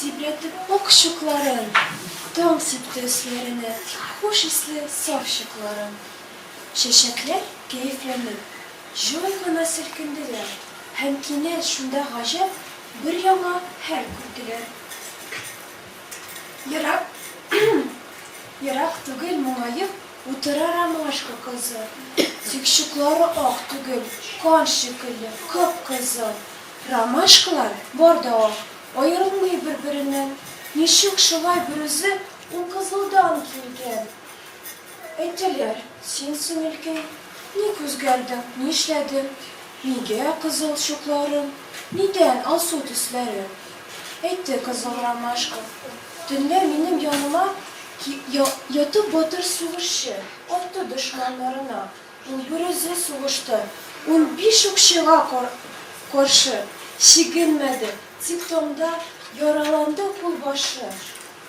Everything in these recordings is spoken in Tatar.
Тибрәтеп ак чукларын, Таң сипте өсләренә Хуш исле саф чукларын. Чәчәкләр кәефләнеп, җай гына селкенделәр Һәм кинәт шунда гаҗәп бер яңа хәл күрделәр. Ерак, ерак түгел моңаеп Утыра ромашка кызы. Тик чуклары ак түгел, Кан шикелле кып-кызыл. Ромашкалар бар да ул, аерылмый бер-береннән. Ничек шулай берүзе ул кызылдан килгән? Әйтәләр, син, сеңелкәй, ник үзгәрдең, нишләдең? Нигә кызыл чукларың? Нидән алсу төсләрең? Әйтте кызыл ромашка. Төнлә минем яныма ятып батыр сугышчы атты дошманнарына. Ул берүзе сугышты, унбиш укчыга каршы чигенмәде, тик таңда яраланды кулбашы.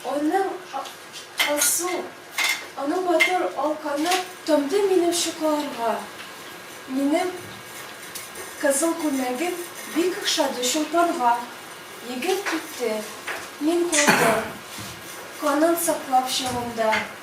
Аның алсу, аның матур ал каны тамды минем чукларга. Минем кызыл күлмәгем бик охшады Чулпанга. Егет китте, мин калдым, канын саклап чагымда.